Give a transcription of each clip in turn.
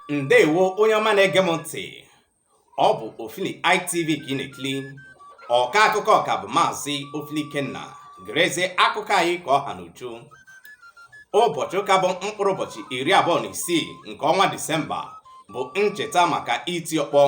ndewo onye ọma na-ege m ntị ọ bụ ofili itv ka ị na-ekili ọka akụkọ ọka bụ maazị ofili ikenna gerezie akụkọ anyị ka ọ ha n'uju ụbọchị ụka bụ mkpụrụ ụbọchị iri abụọ na isii nke ọnwa disemba bụ ncheta maka iti ọkpọ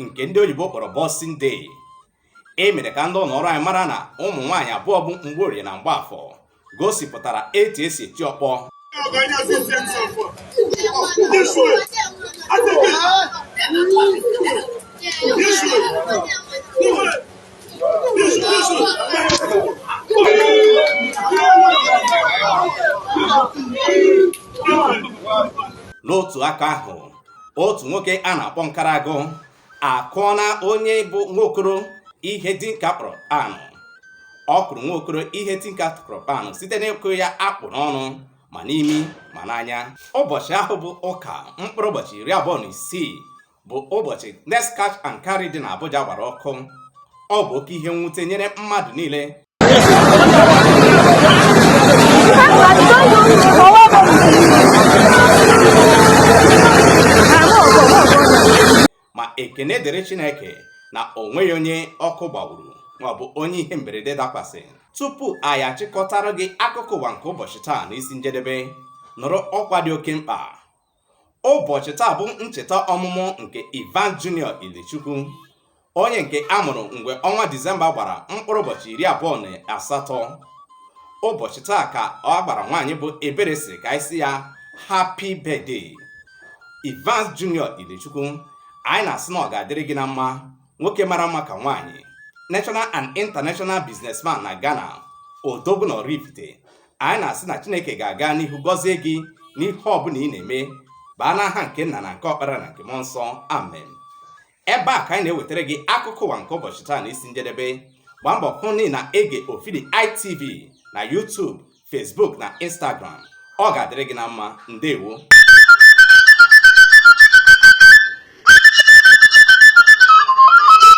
nke ndị oyibo kpọrọ Boxing Day e mere ka ndị ụlọọrụ anyị mara na ụmụ nwaanyị abụọ bụ Mgborie na Mgbaafọ gosipụtara etu e si eti ọkpọ n'otu aka ahụ otu nwoke a na-akpọ Nkarago akụọla onye bụ nwaokoro ihe tinka kpọrọ kpanụ ọ kụrụ nwaokoro ihe tinka kpọrọ kpanụ site n'ịkụ ya akpụ n'ọnụ ma n'imi ma n'anya ụbọchị ahụ bụ ụka mkpụrụ ụbọchị iri abụọ na isii bụ ụbọchị Next Cash and Carry dị n'Abuja gbara ọkụ ọ bụ oke ihe mwute nyere mmadụ niile ma ekene dịrị Chineke na o nweghị onye ọkụ gbagburu maọbụ onye ihe mberede dakwasị tupu anyị achịkọtara gị akụkọ ụwa nke ụbọchị taa n'isi njedebe nụrụ ọkwa dị oke mkpa ụbọchị taa bụ ncheta ọmụmụ nke Evans Junior Ilechukwu onye nke a mụrụ mgbe ọnwa Disemba gbara mkpụrụ ụbọchị iri abụọ na asatọ ụbọchị taa ka agbara nwaanyị bụ Ebere sịrị ka anyị sị ya happy birthday Evans Junior Ilechukwu anyị na-asị na ọ ga-adịrị gị na mma nwoke mara mma ka nwaanyị national and international businessman na Ghana odogwu na Oraifite anyị na-asị na chineke ga-aga n'ihu gọzie gị n'ihe ọbụla ị na-eme baa n'aha nke nna na nke ọkpara na nke mmụọ nsọ amen ebe a ka anyị na-ewetara gị akụkọ ụwa nke ụbọchị taa na isi njedebe gbaa mbọ hụ na ị na-ege ofili itv na youtube facebook na instagram ọ ga-adịrị gị na mma ndewo